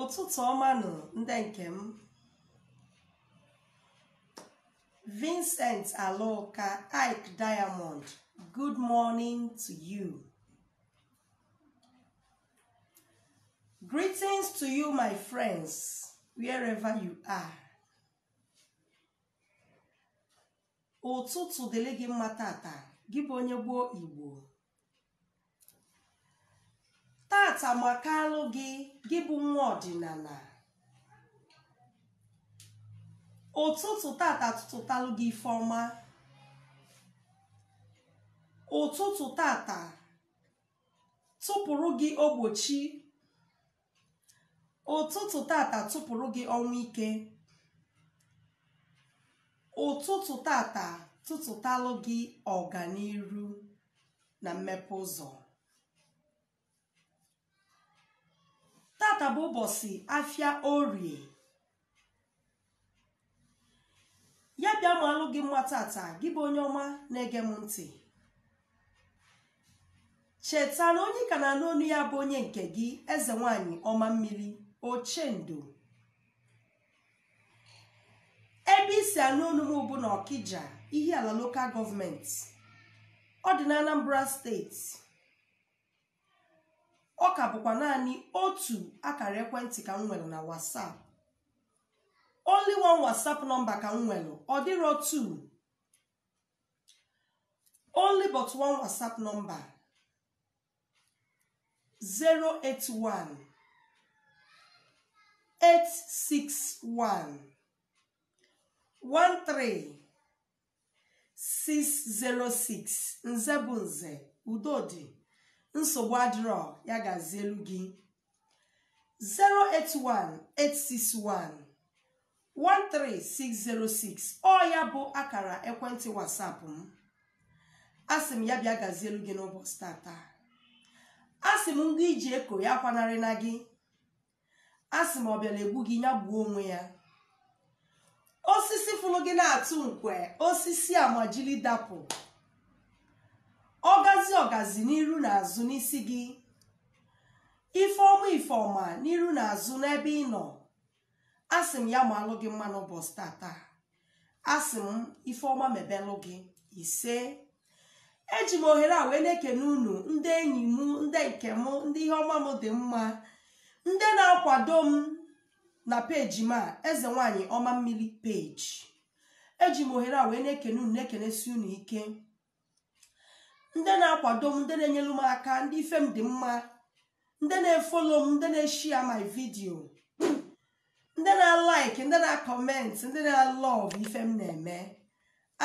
ụtụtụ ọma nụ ndị nke m Vincent Aloka Ike Diamond good morning to you greetings to you my friends wherever you are ụtụtụ dịrị gị mma tata gị bụ onye gboo Igbo tata makalụ gị gị bụ nwa ọdịnala ụtụtụ tata tụtụtalụ gị ife ọma ụtụtụ tata tụpụrụ gị ogbochi ụtụtụ tata tụpụrụ gị ọnwụ ike ụtụtụ tata tụtụtalụ gị ọganiru na mmepe ụzọ tata bụ ụbọsị afịa orie ya bịa malụ gị mma tata gị bụ onye ọma na-ege m ntị cheta na onye ị ka na-anụ onu ya bụ onye nke gị eze nwanyị ọma mmiri ochendo ebe i si anụ onu m bụ na Ọkịja Ihiala local government ọ dị na anambra steeti ọ ka bụkwa naanị otu akara ekwentị ka m nwere na WhatsApp only one WhatsApp number ka m nwere ọ dịrọ two only but one WhatsApp number 081 861 13 606 nze bụ nze udo dị nsogbu adịrọ ya gazielu gị 081-861-13606 ọ ya bụ akara ekwentị WhatsApp m asị m ya bịa gazielu gị n'ụbọsị tata asị m ngwa i ji eko ya kwanarịna gị asị m ọ bịara egbu gị ya gbuo onwe ya osisi fụrụ gị na-atụ nkwe osisi a majiri dapụ ọgazi ọgazi n'iru na azụ n'isi gị ife ọma ife ọma n'iru na azụ n'ebe ị nọ asị m ya malụ gị mma n'ụbọsị tata asị m ife ọma mebelụ gị ise eji m ohere a wee na-ekene unu ndị enyi m ndị nke m ndị ihe ọma m dị mma ndị na-akwado m na peji m a eze nwanyị ọma mmiri peji eji m ohere a wee na-ekene unu na-ekenesi unu ike ndị na-akwado m ndị na-enyelu m aka ndị ife m dị mma ndị na-efolo m ndị na-eshia my video ndị na-alaik ndị na-akọment ndị na-alọv ife m na-eme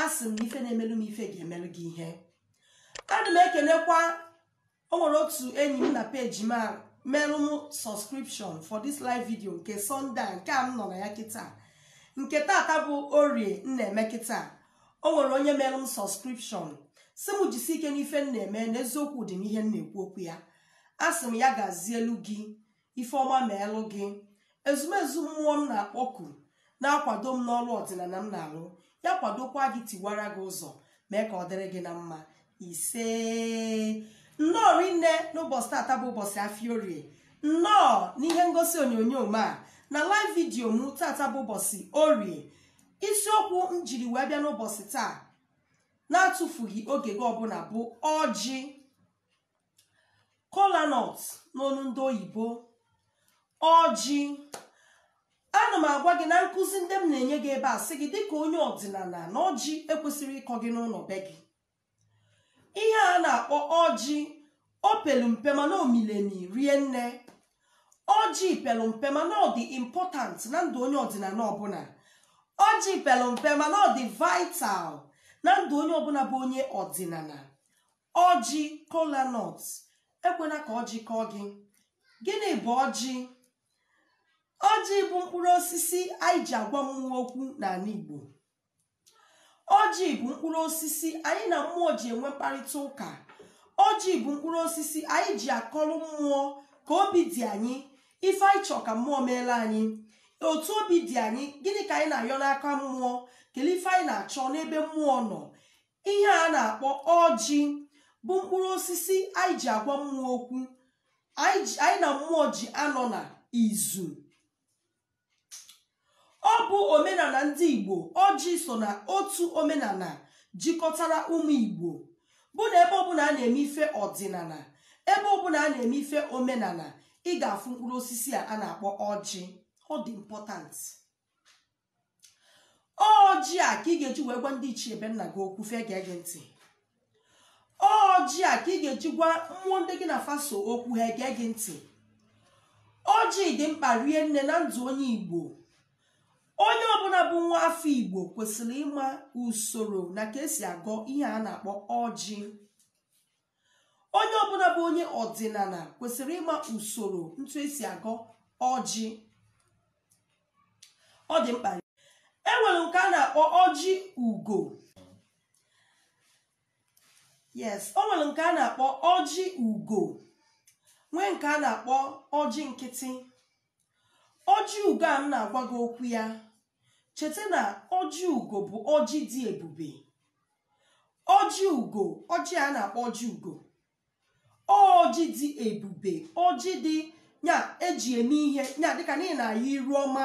asị m na ife na-emelu m ife ga-emelu gị ihe ana m ekenekwa o nwere otu enyi m na peji m a merụ m subscription for this live video nke Sunday nke a m nọ na ya kịta nke tata bụ orie m na-eme kịta o nwere onye merụ m subscription sị m jisi ike n'ife m na-eme na eziokwu dị n'ihe m na-ekwu okwu ya asị m ya gazielu gị ife ọma meelu gị ezumezu mmụọ m na-akpọku na-akwado m n'ọlụ ọdịnala m na-alụ ya kwadokwa gị tiwara gị ụzọ mee ka ọ dịrị gị na mma ise nnọọ rinne n'ụbọchị tata bụ ụbọchị afịa orie nnọọ n'ihe ngosi onyonyo m a na live video m tata bụ ụbọchị orie isiokwu m jiri wee bịa n'ụbọchị taa na-atụfughị oge gị ọbụla bụ ọjị kola nut n'onu ndị oyibo ọjị ana m agwa gị na nkuzi ndị m na-enye gị ebe a sị gị dịka onye ọdịnala na ọjị ekwesịrọ ịkọ gị n'ụlọ be gị ihe a na-akpọ ọjị o pelu mpe mana o mili emi rie nne ọjị pelu mpe mana ọ dị important na ndụ onye ọdịnala ọbụla ọjị pelu mpe mana ọ dị vital na ndụ onye ọbụla bụ onye ọdịnala ọjị kola nut ekwela ka ọjị kọọ gị gịnị bụ ọjị ọjị bụ mkpụrụ osisi anyị ji agwa mmụọ okwu n'ala igbo ọjị bụ mkpụrụ osisi anyị na mmụọ ji enwe mkparịta ụka ọjị bụ mkpụrụ osisi anyị ji akọrọ mmụọ ka obi dị anyị ife anyị chọọ ka mmụọ meelu anyị otu obi dị anyị gịnị ka anyị na-ayọ n'aka mmụọ kelee ife anyị na-achọ n'ebe mmụọ nọ ihe a na-akpọ ọjị bụ mkpụrụ osisi anyị ji agwa mmụọ okwu anyị ji- anyị na mmụọ ji anọ na izu ọ bụ omenala ndị igbo ọjị so na otu omenala jikọtara ụmụ igbo bụ na ebe ọbụla a na-eme ife ọdịnala ebe ọbụla a na-eme ife omenala ị ga-afụ mkpụrụ osisi a a na-akpọ ọjị ọ dị important ọjị a ka ị ga-eji wee gwa ndị ichie be nna gị okwu fa egee gị ntị ọjị a ka ị ga-eji gwa mmụọ ndị gị na fa so okwu ha egee gị ntị ọjị dị mkpa rie nne na ndụ onye igbo onye ọbụla bụ nwa afọ igbo kwesịrị ịma usoro na ka e si agọ ihe a na-akpọ ọjị onye ọbụla bụ onye ọdịnala kwesịrị ịma usoro ntu esi agọ ọjị ọ dị mkpa e nwere nke a na-akpọ ọjị ugo yes o nwere nke a na-akpọ ọjị ugo nwee nke a na-akpọ ọjị nkịtị ọjị ugo a m na-agwa gị okwu ya cheta na ọjị ugo bụ ọjị dị ebube ọjị ugo ọjị a na-akpọ ọjị ugo ọjị dị ebube ọjị dị ya eji eme ihe ya dịka na ị na-ayọ iru ọma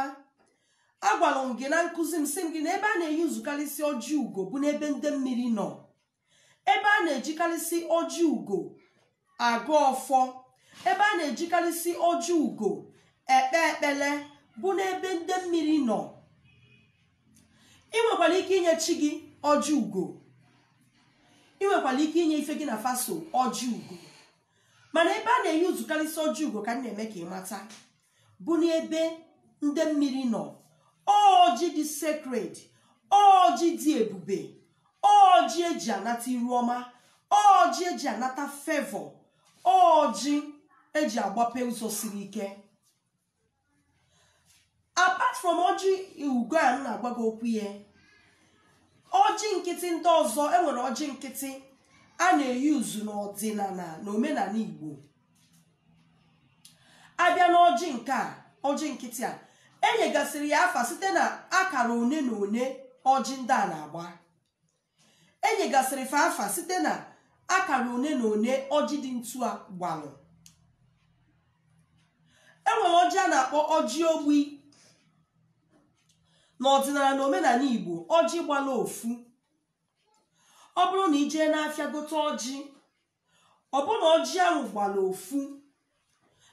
agwara m gị na nkuzi m sị m gị na ebe a na-euse karịsị ọjị ugo bụ n'ebe ndị mmiri nọ ebe a na-ejikarịsị ọjị ugo agọ ọfọ ebe a na-ejikarịsị ọjị ugo ekpe ekpele bụ n'ebe ndị mmiri nọ ị nwekwara ike inye chi gị ọjị ugo ị nwekwara ike inye ife gị na fa so ọjị ugo mana ebe a na-euse karịsị ọjị ugo ka m na-eme ka ị mata bụ n'ebe ndị mmiri nọ ọjị dị sacred ọjị dị ebube ọjị eji anata iru ọma ọjị eji anata favor ọjị eji agbape ụzọ siri ike apart from ọjị ugo a m na-agwa gị okwu ya ọjị nkịtị ndị ọzọ enwere ọjị nkịtị a na-euse n'ọdịnala na omenala igbo a bịa n'ọjị nke a ọjị nkịtị a enyegasịrị ya afa site na akara one na one ọjị ndị a na-agba enyegasịrị fa afa site na akara one na one ọjị dị ntu a gbalụ enwere ọjị a na-akpọ ọjị ogbi n'ọdịnala na omenala igbo ọjị gbala ofu ọ bụrụ na i jee n'afịa gote ọjị ọ bụ na ọjị ahụ gbala ofu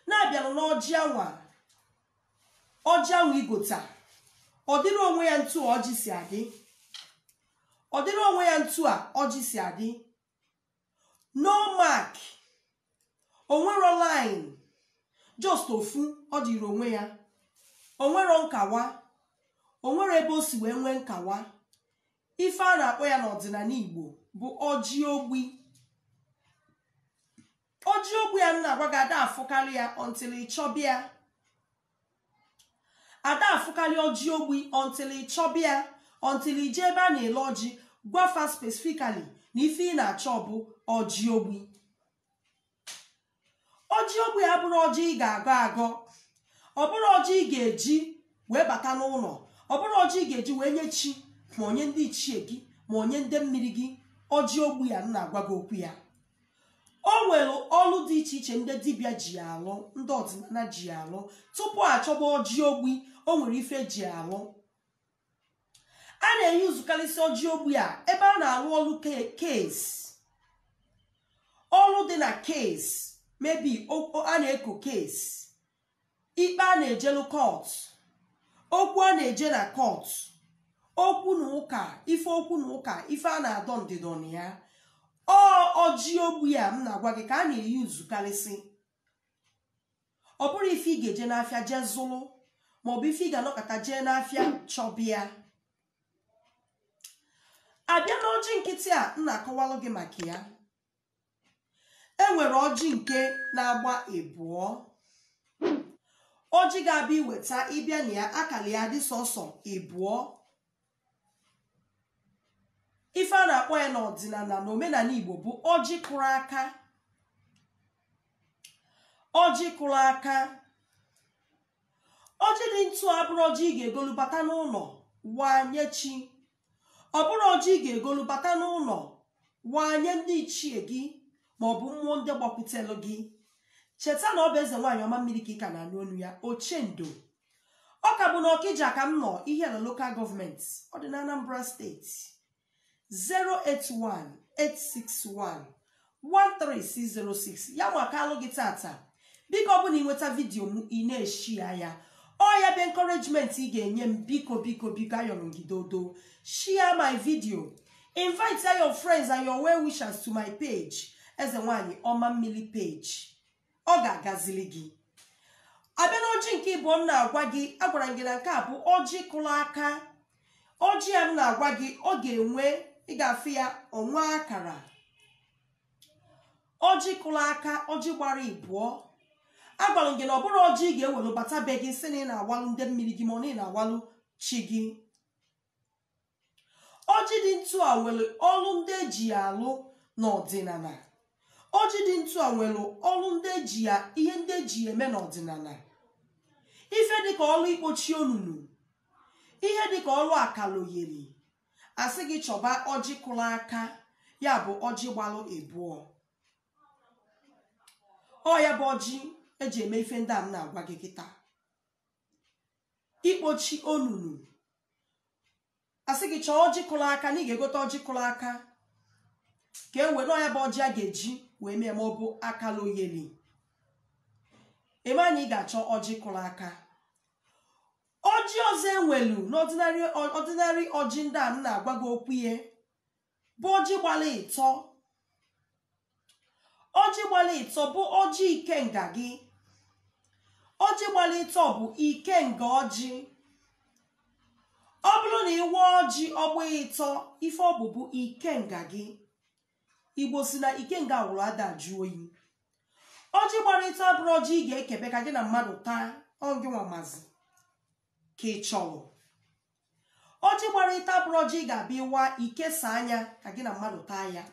na-abịanụ n'ọjị ahụ a ọjị ahụ i gota ọ dịrị onwe ya ntu a ọjị si adị ọ dịrị onwe ya ntu a ọjị si adị no mark onwero line just ofu ọ dịrị onwe ya onwero nkawa onwero ebe o si wee nwee nkawa Ife a na-akpọ ya n'ọdịnala Igbo bụ ọjị ogbi. Ọjị ogbi a m na-agwa gị ada afụkarị ya until ị chọbịa. Ada afụkarị ọjị ogbi until ị chọbịa until ị jee ebe a na-ele ọjị gwa fa specifically na ife ị na-achọ bụ ọjị ogbi. ọjị ogbi abụrụ ọjị ị ga-agọ agọ ọ bụrụ ọjị ị ga-eji wee bata n'ụlọ ọ bụrụ ọjị ị ga-eji wee nye chi ma ọ nye ndị ichie gị ma ọ nye ndị mmiri gị ọjị ogbi a m na-agwa gị okwu ya o nwere ọlụ dị iche iche ndị dibịa ji ya alụ ndị ọdịnala ji ya alụ tupu achọba ọjị ogbi o nwere ife eji ya alụ a na-eyuzukarịsị ọjị ogbi a ebe a na-arụ ọrụ case ọrụ dị na case maybe a na-eko case ikpe a na-ejelu court okwu a na-eje na court okwu na ụka ife okwu na ụka ife a na-adọ ndịdọ na ya ọ ọjị ogbi a m na-agwa gị ka a na-eyuzukarịsị ọ bụrụ ife ị ga-eje n'afịa jee zụlụ maọbụ ife ị ga-anọkata jee n'afịa chọba ya abịa na ọjị nkịtị a m na-akọwalụ gị maka ya enwere ọjị nke na-agba ịbụọ ọjị ga-abụ i weta ị bịa nee ya akara ya dị sọsọ ịbụọ ife a na-akpọ ya na ọdịnala na omenala igbo bụ ọjị kụrụ aka ọjị kụrụ aka ọjị dị ntu a abụrụ ọjị ị ga-egolu bata n'ụlọ wanye chi ọ bụrụ ọjị ị ga-egolu bata n'ụlọ wanye ndị ichie gị ma ọ bụ mmụọ ndị gbakwutelụ gị cheta na ọ bụ eze nwaanyị ọma mmiri ka ị ka na-anụ onu ya ochendo ọ ka bụ na ọkịja ka m nọ ihiala local government ọ dị na anambra state 08186113606 ya makaalụ gị tata biko ọ bụ na ị nweta video m ị na-eshare ya ọ ya bụ encouragement ị ga-enye m biko biko biko ayọrọ m gị dodo share my video invite your friends and your well wishers to my page eze nwanyị ọma mmiri page ọ ga-agazili gị abịa na ọjị nke ịbụọ m na-agwa gị agwara m gị na nke a bụ ọjị kụrụ aka ọjị a m na-agwa gị ọ ga-enwe ị ga-afụ ya o nwee akara ọjị kụrụ aka ọjị gbara ịbụọ agwara m gị na ọ bụrụ ọjị ị ga-ewere bata be gị sị na ị na-awalụ ndị mmiri gị ma ọ na ị na-awalụ chi gị ọjị dị ntu a nwere ọlụ ndị eji ya alụ n'ọdịnala ọjị dị ntu a nwere ọlụ ndị eji ya ihe ndị eji ya eme n'ọdịnala ife dịka ọlụ ikpochi onunu ihe dịka ọlụ akaloyeri asị gị chọba ọjị kụrụ aka ya bụ ọjị gbalụ ịbụọ ọ ya bụ ọjị eji eme ife ndị a m na-agwa gị kịta ikpochi onunu a sị gị chọọ ọjị kụrụ aka na ị ga-egote ọjị kụrụ aka ka e wee n'ọ ya bụ ọjị a ga-eji wee mee ma ọ bụ akala oyeli ebe anyị ị ga-achọ ọjị kụrụ aka ọjị ọzọ e nwelu n'ọdịnanị ọjị ndị a m na-agwa gị okwu ya bụ ọjị gbara ịtọ ọjị gbara ịtọ bụ ọjị ikenga gị ọjị gbara ịtọ bụ ikenga ọjị ọ bụrụ na ị waa ọjị ọ gbaa ịtọ ife ọ bụ bụ ikenga gị igbo si na ikenga wụrụ ada ajụ oyi ọjị gbara ịtọ abụrọ ọjị ị ga-ekebe ka gị na mmadụ taa ọ ngị nwa mazi ka ị chọrọ ọjị gbara ịtọ abụrọ ọjị ị ga-abịa ịwa ikesa anya ka gị na mmadụ taa ya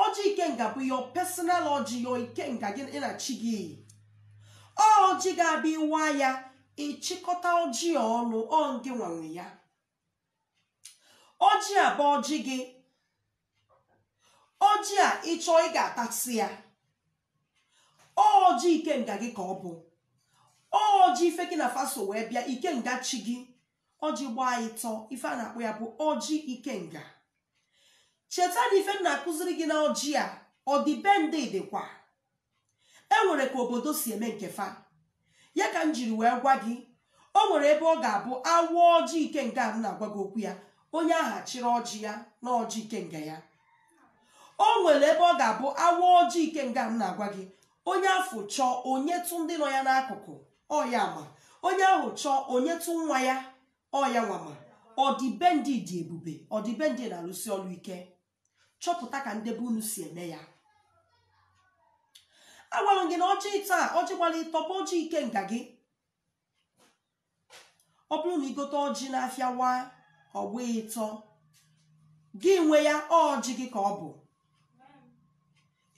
ọjị ikenga bụ your personal ọjị your ikenga gị na chi gị ọjị ị ga-abịa ịwa ya ị chịkọta ọjị a ọnụ ọ ngị nwa nwe ya ọjị a bụ ọjị gị ọjị a ị chọọ ị ga-atasị ya ọjị ikenga gị ka ọ bụ ọjị ife gị na fa so wee bịa ikenga chi gị ọjị gbaa ịtọ ife a na-akpọ ya bụ ọjị ikenga cheta na ife m na-akụziri gị na ọjị a ọdịbendị dịkwa e nwere ka obodo si eme nke fa ya ka m jiri wee gwa gị o nwere ebe ọ ga-abụ a waa ọjị ikenga a m na-agwa gị okwu ya onye ahụ achịrị ọjị ya na ọjị ikenga ya o nwere ebe ọ ga-abụ a waa ọjị ikenga a m na-agwa gị onye afụ chọọ o nyetụ ndị nọ ya n'akụkụ ọ ya ma onye ahụ chọọ o nyetụ nwa ya ọ ya nwa ma ọdịbendị dị ebube ọdịbendị na-alụsi ọlụ ike chọpụta ka ndị be unu si eme ya agwara m gị na ọjị taa ọjị gbara ịtọ bụ ọjị ikenga gị ọ bụrụ na i gote ọjị n'afịa waa ọ gbaa ịtọ gị nwe ya ọjị gị ka ọ bụ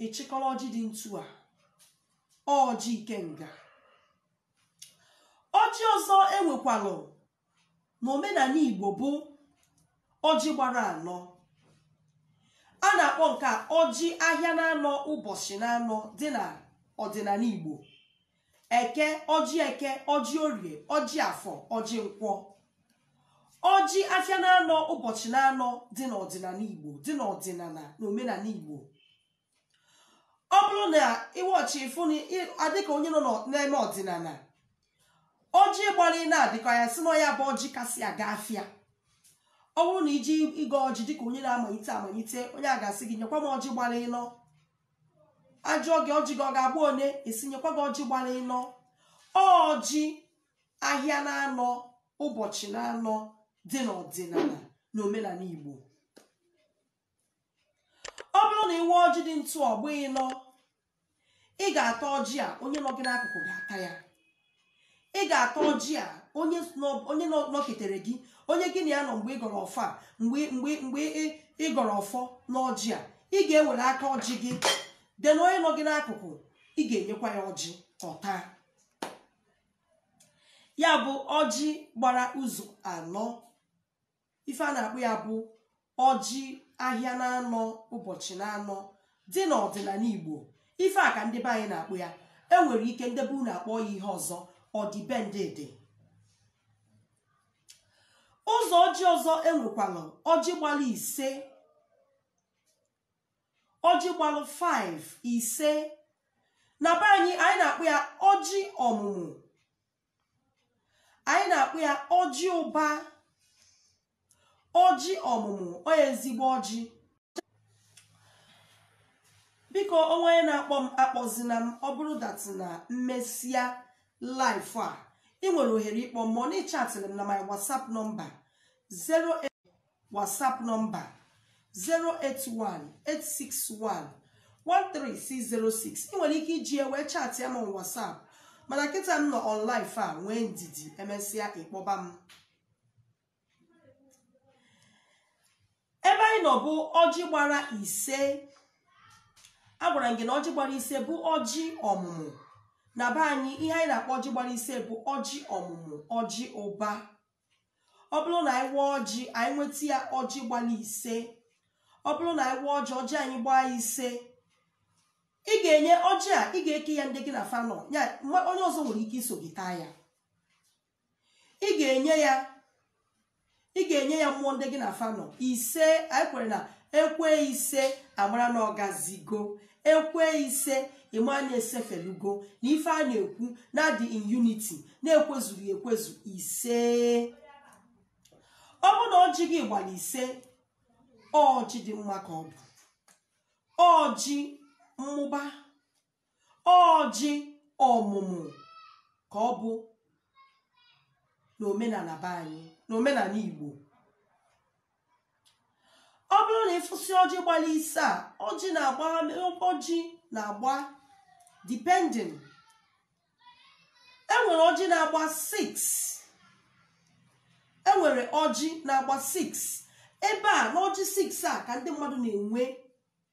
ị chịkọrọ ọjị dị ntu a ọjị ikenga ọjị ọzọ e nwekwalụ na omenala igbo bụ ọjị gbara anọ a na-akpọ nke a ọjị ahịa na-anọ ụbọchị na-anọ dị na ọdịnala igbo eke ọjị eke ọjị orie ọjị afọ ọjị nkwọ ọjị afịa na-anọ ụbọchị na-anọ dị n'ọdịnala igbo dị n'ọdịnala na omenala igbo ọ bụrụ na ị waa ọjị ị fụ na ị- a dịka onye nọ n'ọ- na-eme ọdịnala ọjị gbara ịnọ dịka ya sị na ọ ya bụ ọjị kasị aga afịa ọ bụrụ na i je ịgọ ọjị dịka onye na-amalite amalite onye a ga-asị gị nyekwa m ọjị gbara ịnọ ajụọ gị ọjị gị ọ ga-agba one esi nyekwa gị ọjị gbara ịnọ ọjị ahịa na-anọ ụbọchị na-anọ dị n'ọdịnala na omenala igbo ọ bụrụ na ị waa ọjị dị ntụ ọ gbaa ịnọ ị ga-ata ọjị a onye nọ gị n'akụkụ ga-ata ya ị ga-ata ọjị a onye nọ- onye nọ- nọketere gị onye gị na ya nọ mgbe ị gọrọ ọfọ a mgbe mgbe mgbe ị- ị gọrọ ọfọ n'ọjị a ị ga-ewere aka ọjị gị then onye nọ gị n'akụkụ ị ga-enyekwa ya ọjị ọ taa ya bụ ọjị gbara ụzọ anọ ife a na-akpọ ya bụ ọjị ahịa na-anọ ụbọchị na-anọ dị n'ọdịnala igbo ife a ka ndị be anyị na-akpọ ya e nwere ike ndị be unu akpọ ya ihe ọzọ ọdịbendị dị ụzọ ọjị ọzọ e nwekwalụ ọjị gbalụ ise ọjị gbalụ 5 ise na be anyị anyị na-akpọ ya ọjị ọmụmụ anyị na-akpọ ya ọjị ụba ọjị ọmụmụ ọ ezigbo ọjị biko o nwe onye na-akpọ m akpọzina m ọ bụrụ that na m mesịa live a ị nwere ohere ịkpọ m ma ọ na-echatịrị m na my whatsapp nọmba 0 WhatsApp nọmba 081-861-13606 ị nwere ike iji ya wee chaatịa m on WhatsApp mana kịta m nọ on live a nwee ndidi e mesịa ị kpọba m ebe anyị nọ bụ ọjị gbara ise agwara m gị na ọjị gbara ise bụ ọjị ọmụmụ na be anyị ihe anyị na-akpọ ọjị gbara ise bụ ọjị ọmụmụ ọjị ụba ọ bụrụ na anyị waa ọjị anyị nweta ya ọjị gbara ise ọ bụrụ na anyị waa ọjị ọjị anyị gbaa ise ị ga-enye ọjị a ị ga-eke ya ndị gị na fa nọ ya mma- onye ọzọ nwere ike iso gị taa ya ị ga-enye ya ị ga-enye ya mmụọ ndị gị na fa nọ ise anyị kwere na e kwee ise a mara na ọ gazigo e kwee ise ị ma na e sefelugo na ife a na-ekwu na a dị in unity na e kwezuru ekwezu ise ọ bụ na ọjị gị gbara ise ọjị dị mma ka ọ bụ ọjị mmụba ọjị ọmụmụ ka ọ bụ n'omenala be anyị n'omenala Igbo ọ bụrụ na ị fụsị ọjị gbara ise a ọjị na-agba ọjị na-agba depending e nwere ọjị na-agba 6 e nwere ọjị na-agba 6 ebe a n'ọjị 6 a ka ndị mmadụ na-enwe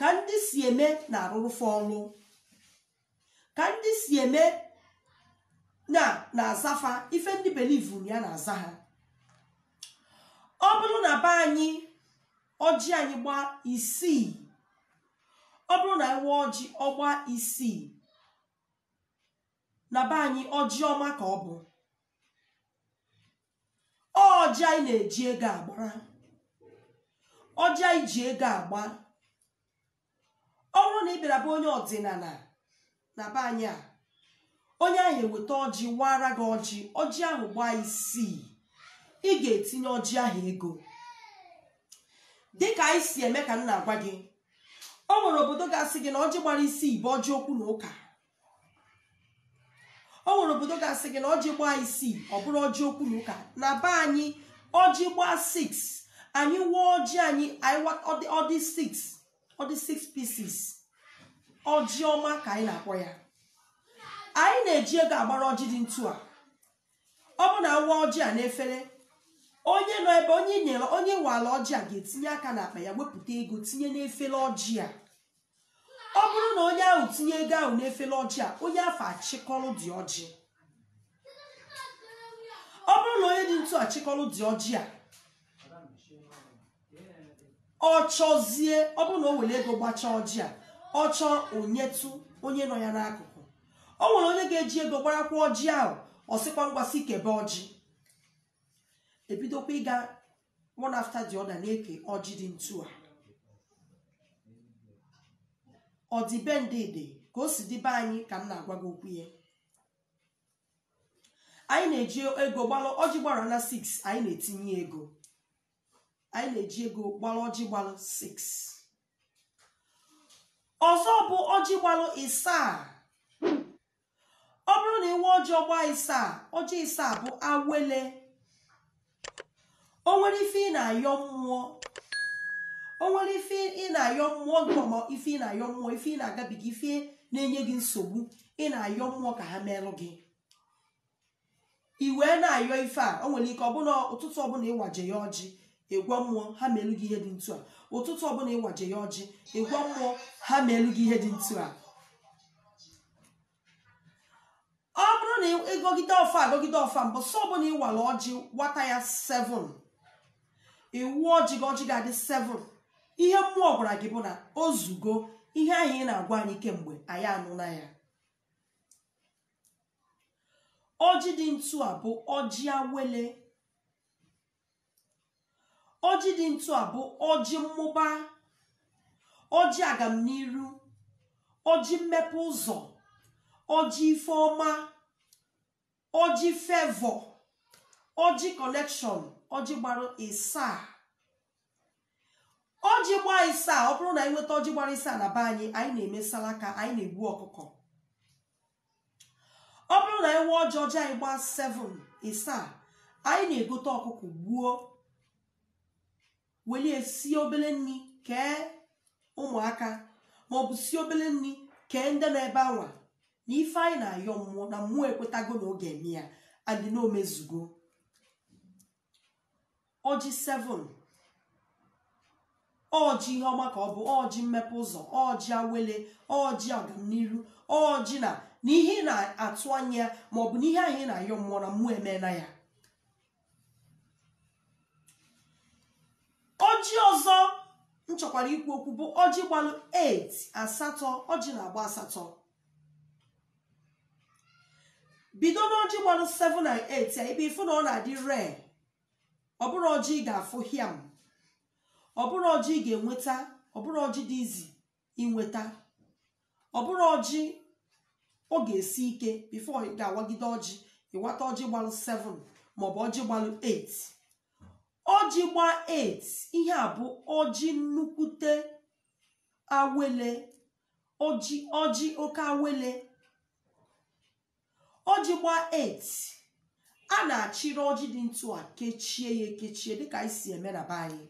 ka ndị si eme na-arụrụ fa ọlụ ka ndị si eme na na-aza fa ife ndị believuru ya na-aza ha ọ bụrụ na be anyị ọjị anyị gbaa isii ọ bụrụ na anyị waa ọjị ọ gbaa isii na be anyị ọjị ọma ka ọ bụ ọjị anyị na-eji ego agbara ọjị anyị ji ego agba ọ bụrụ na ị bịara be onye ọdịnala na be anyị a onye ahụ eweta ọjị waara gị ọjị ọjị ahụ gbaa isii ị ga-etinye ọjị ahụ ego dịka anyị si eme ka m na-agwa gị o nwere obodo ga-asị gị na ọjị gbara isii bụ ọjị okwu na ụka o nwere obodo ga-asị gị na ọjị gbaa isii ọ bụrụ ọjị okwu na ụka na be anyị ọjị gbaa 6 anyị waa ọjị anyị anyị wa- ọ dị- ọ dị 6 ọ dị 6 pieces ọjị ọma ka anyị na-akpọ ya anyị na-eji ego agbara ọjị dị ntu a ọ bụrụ na a waa ọjị a n'efere onye nọ ebe onye nyere onye waala ọjị a ga-etinye aka n'akpa ya wepụta ego tinye n'efere ọjị a ọ bụrụ na onye ahụ tinye ego ahụ n'efere ọjị a onye afụ achịkọrọ dị ọjị ọ bụrụ na onye dị ntu achịkọrọ dị ọjị a ọ chọzie ọ bụrụ na o were ego gbachaa ọjị a ọ chọọ o nyetụ onye nọ ya n'akụkụ o nwere onye ga-eji ego gbarakwa ọjị ahụ ọ sịkwa ngwa sị kebe ọjị e bidokwa ịga one after the other na-eke ọjị dị ntu a ọdịbendị dị ka o si dị be anyị ka m na-agwa gị okwu ya anyị na-eji ego gbalụ ọjị gbara na 6 anyị na-etinye ego anyị na-eji ego gbalụ ọjị gbalụ 6 ọzọ bụ ọjị gbalụ isaa ọ bụrụ na ị waa ọjị ọ gbaa isaa ọjị isaa bụ awele o nwere ife ị na-ayọ mmụọ o nwere ife ị na-ayọ mmụọ gị ma ife ị na-ayọ mmụọ ife ị na-agabiga ife na-enye gị nsogbu ị na-ayọ mmụọ ka ha meelụ gị i wee na-ayọ ife a o nwere ike ọ bụ na ụtụtụ ọbụla ịwaje ya ọjị ịgwa mmụọ ha meelu gị ihe dị ntu a ụtụtụ ọbụla ịwaje ya ọjị ịgwa mmụọ ha meelu gị ihe dị ntu a ọ bụrụ na ịgọgide ọfọ a gọgide ọfọ a mbọsị ọbụla ịwala ọjị wata ya 7 ịwa ọjị gị ọjị gị adị 7 ihe mmụọ gwara gị bụ na o zugo ihe ahụ ị na-agwa anyị kemgbe anyị anụla ya ọjị dị ntu a bụ ọjị awele ọjị dị ntu a bụ ọjị mmụba ọjị agamniru ọjị mmepe ụzọ ọjị ife ọma ọjị favour ọjị connection ọjị gbara ịsaa ọjị gbaa ịsaa ọ bụrụ na anyị nweta ọjị gbara ịsaa na be anyị anyị na-eme salaka anyị na-egbu ọkụkọ ọ bụrụ na ịwa ọjị ọjị anyị gbaa 7 ịsaa anyị na-egote ọkụkọ gbuo welu ya sie obele nri kee ụmụaka maọbụ sie obele nri kee ndị nọ ebe anwa na ife anyị na-ayọ mmụọ na mmụọ ekwetago na ọ ga-eme ya and na o mezugo ọjị 7 ọjị ihe ọma ka ọ bụ ọjị mmepe ụzọ ọjị awele ọjị agamniru ọjị na na ihe ị na-atụ anya ya ma ọ bụ na ihe ahụ ị na-ayọ mmụọ na mmụọ emeela ya ọjị ọzọ m chọkwara ikwu okwu bụ ọjị gbalụ 8 asatọ ọjị na-agba asatọ bido n'ọjị gbalụ 7 na 8 ya ibe ịfụ na ọ na-adị rare ọ bụrọ ọjị ị ga-afụ hiam ọ bụrọ ọjị ị ga-enweta ọ bụrọ ọjị dị easy inweta ọ bụrọ ọjị ọ ga-esi ike before ị ga-awagide ọjị ịwata ọjị gbalụ 7 maọbụ ọjị gbalụ 8 ọjị gbaa 8 ihe a bụ ọjị nnukwute awele ọjị ọjị oke awele ọjị gbaa 8 a na-achịrị ọjị dị ntu a kechie ya ekechie dịka anyị si eme na be anyị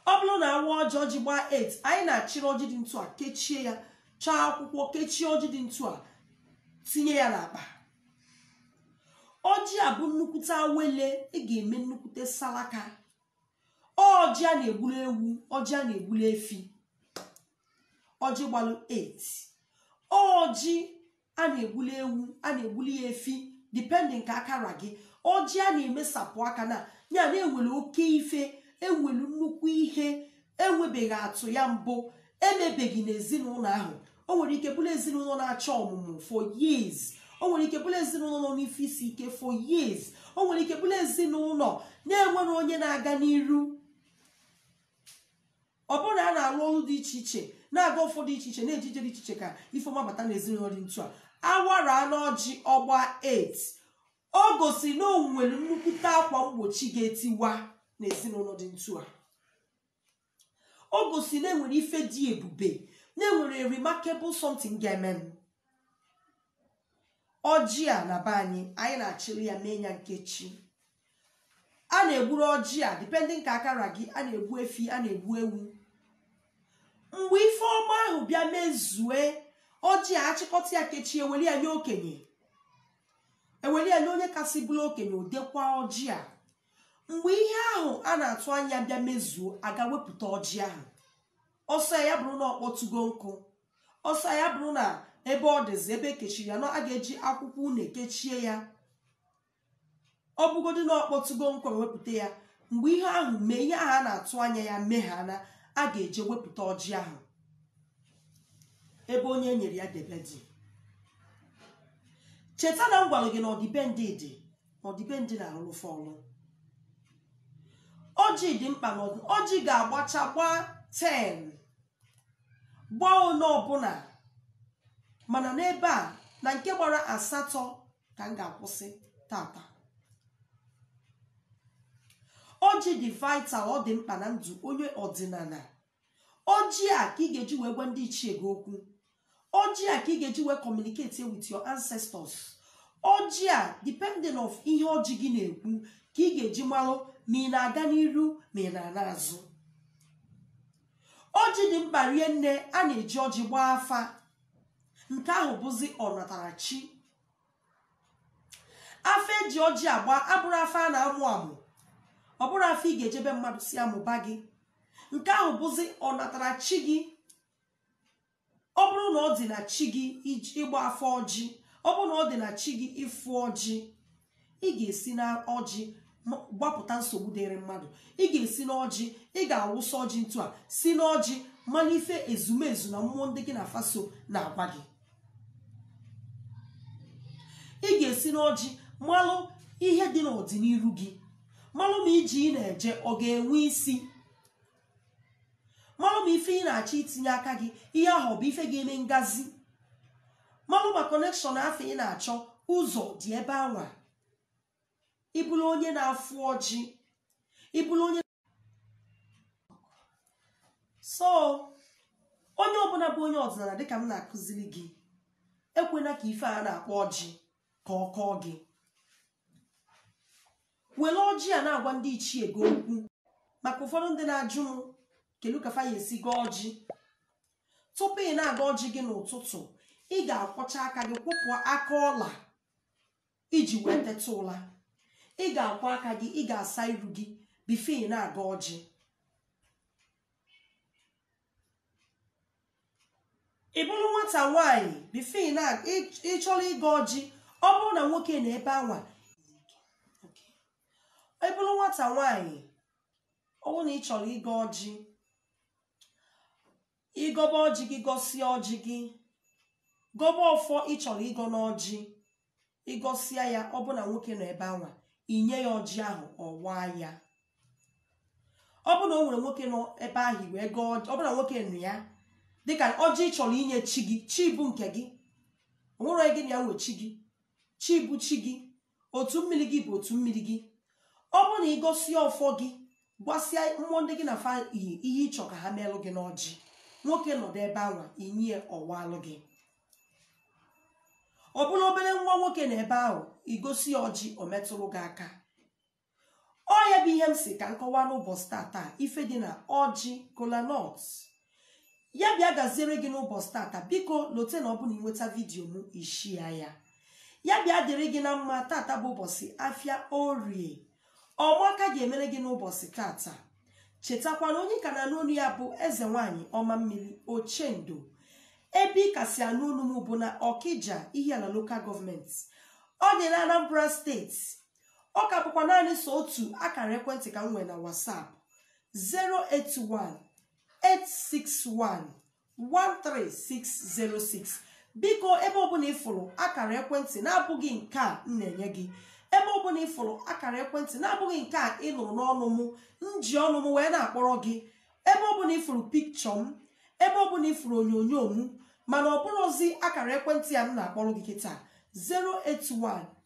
ọ bụrụ na a waa ọjị ọjị gbaa 8 anyị na-achịrị ọjị dị ntu a kechie ya chọọ akwụkwọ kechie ọjị dị ntu a tinye ya n'akpa ọjị a bụ nnukwute awele ị ga-eme nnukwute salaka ọjị a na-egburu ewu ọjị a na-egburu efi ọjị gbalụ 8 ọjị a na-egbulu ewu a na-egbulu ya efi depending ka aka ra gị ọjị a na-emesapụ aka na ya na-ewere oke ife ewelu nnukwu ihe enwebeghị atụ ya mbụ emebeghị n'ezinụlọ ahụ o nwere ike bụrụ ezinụlọ na-achọ ọmụmụ for years o nwere ike bụrụ ezinụlọ nọ n'ife isi ike for years o nwere ike bụrụ ezinụlọ na-enwerọ onye na-aga n'iru ọ bụrụ na a na-alụ ọrụ dị iche iche na-aga ụfọdụ iche iche na-eje ije dị iche iche ka ife ọma bata na ezinụlọ dị ntu a awara n'ọjị ọ gbaa 8 o gosi na o nwere nnukwute akwa mgbochi ga-etiwa na ezinụlọ dị ntu a o gosi na enwere ife dị ebube na enwere remarkable something ga-eme m ọjị a na be anyị anyị na-achịli ya mee ya nkechi a na-egburu ọjị a depending ka aka ra gị a na-egbu efi a na-egbu ewu mgbe ife ọma ahụ bịa mezue ọjị a achịkọta ya kechie eweli ya nye okenye eweli ya nye onye kasị bụrụ okenye o dekwa ọjị a mgbe ihe ahụ a na-atụ anya bịa mezuo a gaa wepụta ọjị ahụ ọ sọ ya bụrụ na ọ kpọtugo nkụ ọ sọ ya bụrụ na ebe ọ dịzi ebe ekechiri ya na a ga-eji akwụkwọ une kechie ya ọ bụgodị na ọ kpọtugo nkụ ewepụta ya mgbe ihe ahụ mee ihe ahụ a na-atụ anya ya meghana a ga-eje wepụta ọjị ahụ ebe onye e nyere ya debe dị cheta na m gwara gị na ọdịbendị dị ọdịbendị na-arụrụ fa ọrụ ọjị dị mkpa na ọjị ga-agbacha gbaa 10 gbaa one ọbụna mana n'ebe a na nke gbara asatọ ka m ga-akwụsị tata ọjị dị vital ọ dị mkpa na ndụ onye ọdịnana ọjị a ka ị ga-eji wee gwa ndị ichie gị okwu ọjị a ka ị ga-eji wee communicate with your ancestors ọjị a depending of ihe ọjị gị na-ekwu ka ị ga-eji marụ ma ị na-aga n'iru ma ị na-ana azụ ọjị dị mkpa rie nne a na-eji ọjị gbaa afa nke ahụ bụzi ọnatarachi afa eji ọjị agba abụrọ afa a na-amụ amụ ọ bụrọ afa ị ga-eje be mmadụ si amụba gị nke ahụ bụzi ọnatara chi gị ọ bụrụ na ọ dị na chi gị ịgba afa ọjị ọ bụrụ na ọ dị na chi gị ịfụ ọjị ị ga-esi na ọjị gbapụta nsogbu dịrị mmadụ ị ga-esi n'ọjị ị ga-awụsa ọjị ntu a si n'ọjị mana ife ezumezu na mmụọ ndị gị na fa so na-agwa gị ị ga-esi n'ọjị malụ ihe dị n'ọdịniru gị malụ ma ije ị na-eje ọ ga-enwe isi malụ ma ife ị na-achọ itinye aka gị ihe ahụ ọ bụ ife ga-eme ngazi malụ ma connection afụ ị na-achọ ụzọ dị ebe anwa ị bụrụ onye na-afụ ọjị ị bụrụ onye so onye ọbụla bụ onye ọdịnala dịka m na-akụziri gị ekwena ka ife a na-akpọ ọjị ka ọ kọọ gị were ọjị a na-agwa ndị ichie gị okwu maka ụfọdụ ndị na-ajụ m kedu ka fa ya-esi gọọ ọjị tupu ị na-agọ ọjị gị n'ụtụtụ ị ga-akwọcha aka gị kwọpụ aka ụla i ji wee teta ụla ị ga-akwọ aka gị ị ga-asa iru gị bifo ị na-agọ ọjị ị bụrụ nwata nwaanyị bifo ị na ị chọrọ ịgọ ọjị ọ bụrụ na nwoke nọ ebe anwa ị bụrụ nwata nwaanyị ọ bụrụ na ị chọrọ ịgọ ọjị ị gọba ọjị gị gọsịa ọjị gị gọba ọfọ ị chọrọ ịgọ n'ọjị ị gọsịa ya ọ bụ na nwoke nọ ebe anwa i nye ya ọjị ahụ ọ waa ya ọ bụ na o nwerọ nwoke nọ ebe ahụ wee gọọ ọjị ọ bụ na nwoke nọ ya dịka ọjị ị chọrọ inye chi gị chi bụ nke gị o nwerọ onye gị na ya nwe chi gị chi bụ chi gị otu mmiri gị bụ otu mmiri gị ọ bụrụ na ị gọsie ọfọ gị gwasịa mmụọ ndị gị na fa yi ihe ị chọ ka ha meelụ gị n'ọjị nwoke nọdụ ebe anwa i nye ya ọ waalụ gị ọ bụrụ obere nwa nwoke nọ ebe ahụ ị gọsịa ọjị o metụrụ gị aka ọ ya bụ ihe m sị ka m kọwaa n'ụbọchị tata ife dị na ọjị kolanọt ya bịa gaziere gị n'ụbọchị tata biko lote na ọ bụ na ị nweta vidiyo m ị shia ya ya bịa dịrị gị na mma tata bụ ụbọchị afịa orie ọma ka ga-emere gị n'ụbọchị tata chetakwana onye ka na-anụ onu ya bụ eze nwanyị ọma mmiri ochendo ebe ị ka si anụ onu m bụ na ọkija ihiala lokal gọọmenti ọ dị na anambra steeti ọ ka bụkwa naanị sọ otu akara ekwentị ka m nwere na WhatsApp 081 861 13606 biko ebe ọbụla ịfụrụ akara ekwentị na-abụghị nke a m na-enye gị ebe ọbụla ịfụrụ akara ekwentị na-abụghị nke a ị nụrụ n'ọnụ m m ji ọnụ m wee na-akpọrọ gị ebe ọbụla ịfụrụ pikchọ m ebe ọbụla ịfụrụ onyonyo m mana ọ bụrọzi akara ekwentị a m na-akpọrọ gị kịta 081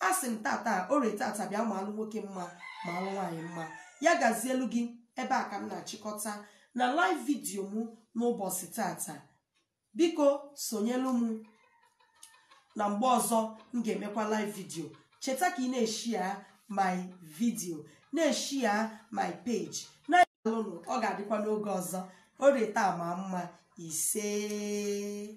a sị m tata orie tata bịa maalụ nwoke mma maalụ nwaanyị mma ya gazielu gị ebe a ka m na-achịkọta na live vidiyo m n'ụbọchị tata biko sonyelu m na mgbe ọzọ m ga-emekwa live vidiyo cheta ka ị na-eshia my vidiyo na-eshia my page daalụnụ ọ ga-adịkwa n'oge ọzọ orie taa ma mma isee